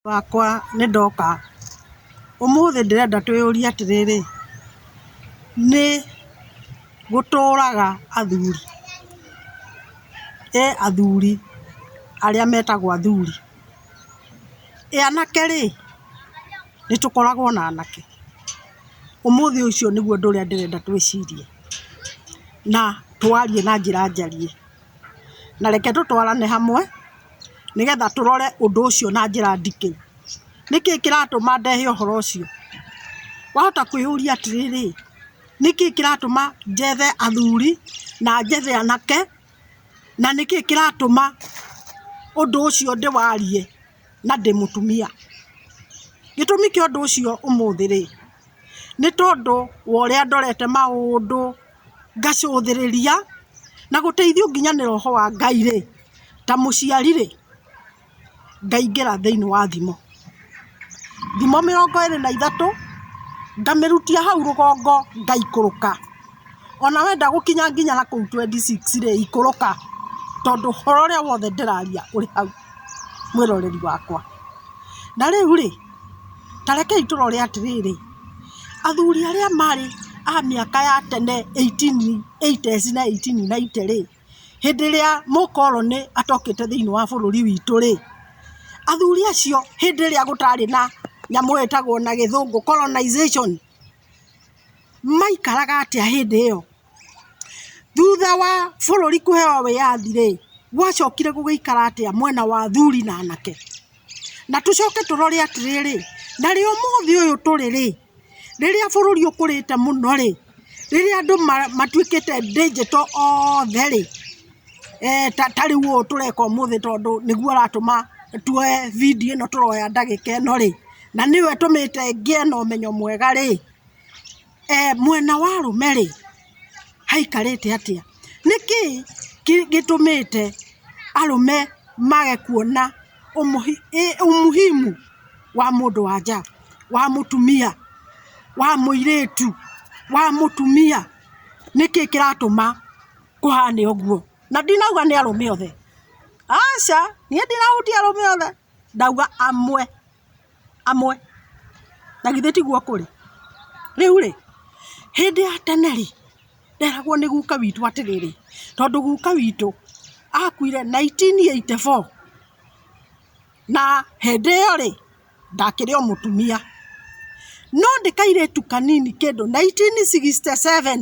Wakwa nĩ ndoka. Ũmũthĩ ndĩrenda twĩyũrie atĩrĩrĩ, nĩ gũtũraga athuri, he athuri arĩa metagwo athuri. Anake rĩ, nĩ tũkoragwo na anake? Ũmũthĩ ũcio nĩguo ũndũ ũrĩa ndĩrenda twĩcirie na twarie na njĩra njariĩ. na reke tũtwarane hamwe nĩgetha tũrore ũndũ ũcio na njĩra nditũ. Nĩkĩĩ kĩratũma ndehe ũhoro ũcio? Wahota kwĩyũria atĩrĩrĩ, nĩkĩĩ kĩratũma njethe athuri na njethe anake, na nĩkĩĩ kĩratũma ũndũ ũcio ndĩwarie na ndĩ mũtumia? Gĩtũmi kĩa ũndũ ũcio ũmũthĩ-rĩ, nĩ tondũ wa ũrĩa ndorete maũndũ. ngacũthĩrĩria na gũteithio nginya nĩ roho wa Ngai rĩ, ta mũciari rĩ, ngaingĩra thĩinĩ wa thimo. Thimo mĩrongo ĩrĩ na ithatũ, ngamĩrutia hau rũgongo ngaikũrũka. O na wenda gũkinya nginya na kũu twendi six rĩ, ikũrũka tondũ ũhoro ũrĩa wothe ndĩraria ũrĩ hau mwĩroreri wakwa. Na rĩu rĩ, ta rekei tũrore atĩrĩrĩ. athuri arĩa marĩ a mĩaka ya tene eighteen eighties na eighteen ninety rĩ, hĩndĩ ĩrĩa mũkoroni atokĩte thĩiniĩ wa bũrũri witũ rĩ, athuri acio hĩndĩ ĩrĩa gũtarĩ na nyamũ ĩtagwo na gĩthũngũ colonization maikaraga atĩa hĩndĩ ĩyo? Thutha wa bũrũri kũheo wĩyathi rĩ, gwacokire gũgĩikara atĩa mwena wa athuri na anake? Na tũcoke tũrore atĩrĩrĩ, na rĩo ũmũthĩ ũyũ tũrĩ rĩ, rĩrĩa bũrũri ũkũrĩte mũno rĩ, rĩrĩa andũ matuĩkĩte ndĩjĩto othe rĩ, ta rĩu ũũ tũreka ũmũthĩ tondũ nĩguo ũratũma tuoye video ĩno tũroya ndagĩka ĩno rĩ, na nĩwe ũtũmĩte ngĩe na ũmenyo mwega rĩ, e, mwena wa rume ri haikarite atia niki gitumite arume mage kuona umuhi, e, umuhimu wa mundu wa nja wa mutumia wa muiritu wa mutumia niki kiratuma kuhane uguo na ndinauga ni arume othe aca nie ndirahutia arume othe ndauga amwe amwe, na githĩ tiguo kũrĩ? Rĩu rĩ, hĩndĩ ya tene rĩ, nderagwo nĩ guka witũ atĩrĩrĩ, tondũ guka witũ akuire nineteen eighty four, na hĩndĩ ĩyo rĩ, ndakĩrĩ o mũtumia, no ndĩ kairĩtu kanini kĩndũ nineteen sixty seven.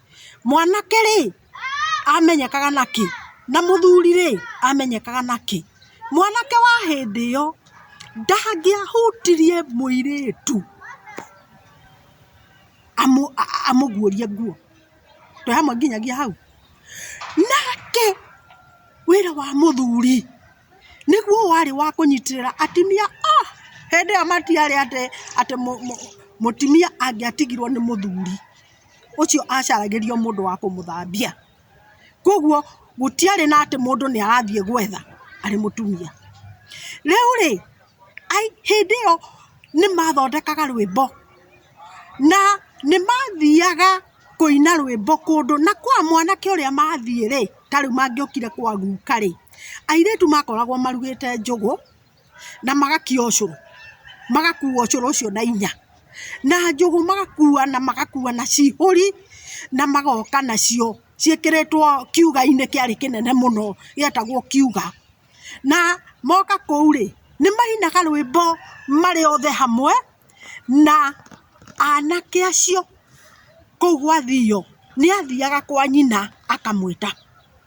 Mwanake-rĩ, amenyekaga na kĩ? Na mũthuri-rĩ, amenyekaga na kĩ? Mwanake wa hĩndĩ ĩyo, ndangĩahutirie mũirĩtu amũguũrie nguo. Twĩ hamwe nginyagia hau? Nake wĩra wa mũthuri, nĩguo warĩ wa kũnyitĩrĩra atumia a, hĩndĩ ĩyo matiarĩ atĩ mũtumia angĩatigirwo nĩ mũthuri. ũcio acaragĩrio mũndũ wa kũmũthambia. Kwoguo gũtiarĩ na atĩ mũndũ nĩ arathiĩ gwetha arĩ mũtumia. Rĩu rĩ, hĩndĩ ĩyo nĩ mathondekaga rwĩmbo na nĩ mathiaga kũina rwĩmbo kũndũ na kwa mwanake ũrĩa mathiĩ rĩ, ta rĩu mangĩokire kwa guka rĩ, airĩtu makoragwo marugĩte njũgũ. na magakia ũcũrũ, magakua ũcũrũ ũcio na hinya, na njũgũ magakua na magakua na cihũri, na magoka nacio ciĩkĩrĩtwo kiuga-inĩ kĩarĩ kĩnene mũno gĩetagwo kiuga, na moka kũu rĩ, nĩ mainaga rwĩmbo marĩ othe hamwe, na anake acio kũu gwathio, nĩ athiaga kwa nyina akamwĩta.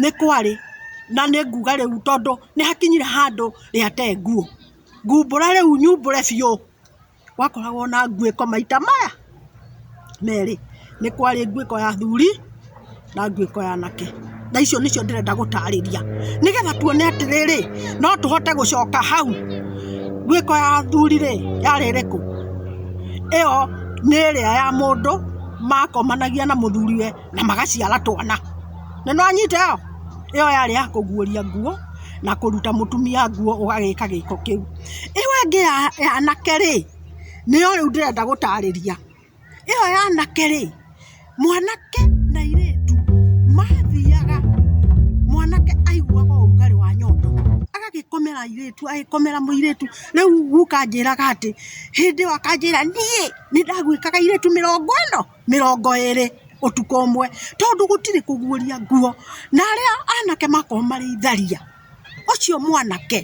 nĩ kwarĩ na nĩ nguga rĩu tondũ nĩ hakinyire handũ rĩa te nguo, ngumbũre rĩu nyumbũre biũ, gwakoragwo na nguĩko maita maya merĩ, nĩ kwarĩ nguĩko ya athuri na nguĩko ya anake, na icio nĩcio ndĩrenda gũtarĩria, nĩgetha tuone atĩrĩrĩ, no tũhote gũcoka hau, nguĩko ya athuri rĩ, yarĩ ĩrĩkũ? ĩyo nĩ ĩrĩa ya mũndũ makomanagia na mũthuriwe. na magaciara twana. Na nĩ wanyita ĩyo? Ĩyo yarĩ ya kũguũria nguo na kũruta mũtumia nguo ũgagĩka gĩko kĩu. Ĩyo ĩngĩ ya anake rĩ, nĩyo rĩu ndĩrenda gũtarĩria. Ĩyo ya anake rĩ, mwanake na airĩtu mathiaga, mwanake aiguaga ũrugarĩ wa nyondo agagĩkomera airĩtu, agagĩkomera mũirĩtu. Rĩu guka anjĩraga atĩ, hĩndĩ ĩyo akanjĩra, niĩ nĩ ndagwĩkaga airĩtu mĩrongo ĩno? mĩrongo ĩrĩ ũtukũ ũmwe tondũ gũtirĩ kũguũria nguo, na arĩa anake makorwo marĩ itharia, ũcio mwanake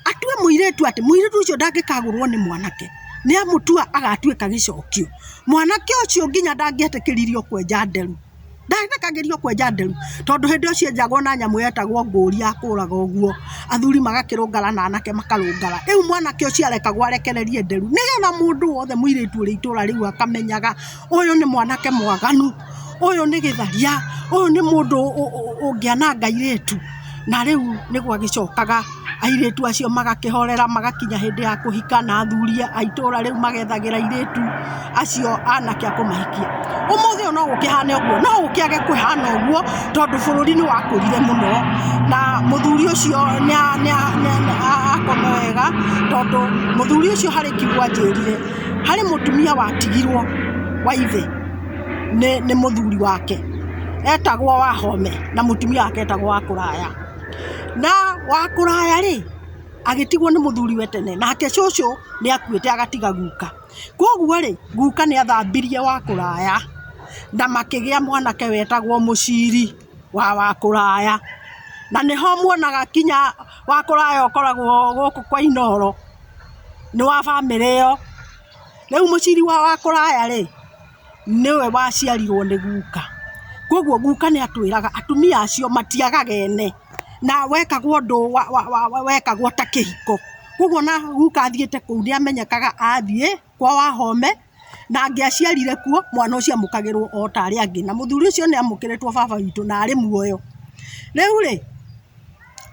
atue mũirĩtu atĩ mũirĩtu ũcio ndangĩkagũrwo nĩ mwanake nĩamũtua agatuĩka gĩcokio, mwanake ũcio nginya ndangĩetĩkĩririo kwenja nderu. ndathekagĩrio kwenja nderu tondũ hĩndĩ ĩyo cienjagwo na nyamũ yetagwo ngũri ya kũraga ũguo, athuri magakĩrũngana na anake makarũngana, rĩu mwanake ũcio arekagwo arekererie nderu nĩgetha mũndũ wothe mũirĩtu ũrĩ itũra rĩu akamenyaga ũyũ nĩ mwanake mwaganu, ũyũ nĩ gĩtharia, ũyũ nĩ mũndũ ũngĩananga airĩtu. Na rĩu nĩ gwagĩcokaga airĩtu acio magakĩhorera magakinya hĩndĩ ya kũhika na athuri a itũũra rĩu magethagĩra airĩtu acio anake a kũmahikia. Ũmũthĩ ũyũ no gũkĩhane ũguo, no gũkĩage kũhana ũguo tondũ bũrũri nĩ wakũrire mũno na mũthuri ũcio nĩ akoma wega tondũ mũthuri ũcio harĩ kiugo anjĩrire harĩ mũtumia watigirwo wa ithe. nĩ mũthuri wake etagwo Wahome na mũtumia wake etagwo Wakũraya. Na Wakũraya rĩ, agĩtigwo nĩ mũthuriwe tene nake cũcũ nĩ akuĩte agatiga guka. Kwoguo rĩ, guka nĩ athambirie Wakũraya na makĩgĩa mwanake wetagwo Mũciri wa Wakũraya. Na nĩho muonaga nginya Wakũraya ũkoragwo gũkũ kwa Inooro, nĩ wa bamĩrĩ ĩyo. Rĩu mũciri wa kũraya rĩ, nĩwe waciarirwo nĩ guka. Kwoguo guka nĩ atwĩraga atumia acio matiagaga ene, na wekagwo ũndũ wekagwo ta kĩhiko. Kwoguo o na guka athiĩte kũu nĩ amenyekaga athiĩ kwa Wahome, na angĩaciarire kuo, mwana ũcio amũkagĩrwo o ta arĩa angĩ. Na mũthuri ũcio nĩ amũkĩrĩtwo baba witũ na arĩ muoyo. Rĩu rĩ,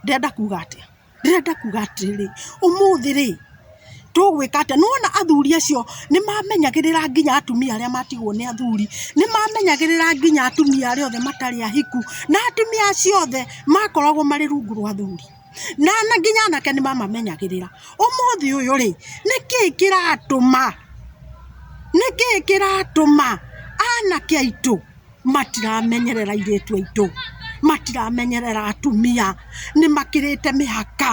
ndĩrenda kuga atĩa? Ndĩrenda kuga atĩrĩrĩ, ũmũthĩ rĩ, tũgwĩka atĩa? Nĩ wona athuri acio nĩ mamenyagĩrĩra nginya atumia arĩa matigwo nĩ athuri, nĩ mamenyagĩrĩra nginya atumia arĩa othe matarĩ ahiku, na atumia acio othe makoragwo marĩ rungu rwa athuri, na nginya anake nĩ mamamenyagĩrĩra. Ũmũthĩ ũyũ rĩ, nĩ kĩ kĩratũma, nĩ kĩ kĩratũma anake aitũ matiramenyerera airĩtu aitũ, matiramenyerera atumia, nĩ makĩrĩte mĩhaka,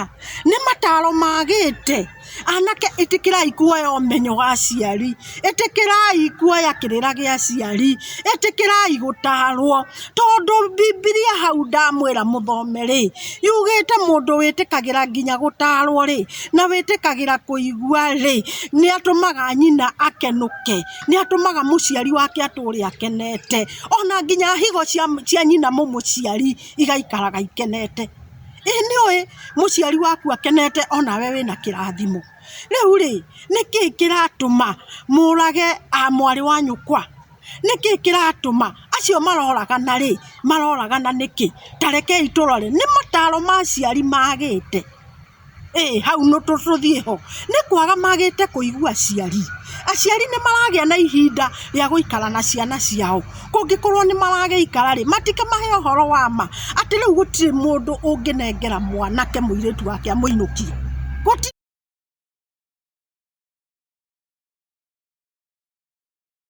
nĩ mataro magĩte, anake ĩtĩkĩrai kuoya ũmenyo wa aciari, ĩtĩkĩrai kuoya kĩrĩra gĩa aciari, ĩtĩkĩrai gũtarwo, tondũ Bibilia hau ndamwĩra mũthome rĩ, yugĩte mũndũ wĩtĩkagĩra nginya gũtarwo rĩ, na wĩtĩkagĩra kũigwa rĩ, nĩ atũmaga nyina akenũke. nĩ atũmaga mũciari wake atũũre akenete, ona nginya higo cia nyina mũmũciari igaikaraga ikenete. Ĩ nĩũĩ mũciari waku akenete onawe wĩna kĩrathimo? Rĩu rĩ, nĩkĩ kĩratũma mũũrage mwarĩ wa nyũkwa? Nĩkĩ kĩratũma? Acio maroragana rĩ, maroragana nĩkĩ? Ta rekei tũrore, nĩ mataro ma aciari magĩte. ĩĩ hau tũthiĩ ho, nĩ kwaga magĩte kũigua aciari. Aciari nĩ maragĩa na ihinda rĩa gũikara na ciana ciao. Kũngĩkorwo nĩ maragĩikara rĩ, matikĩmahe ũhoro wa ma, atĩ rĩu gũtirĩ mũndũ ũngĩnengera mwanake mũirĩtu wake amũinũkie.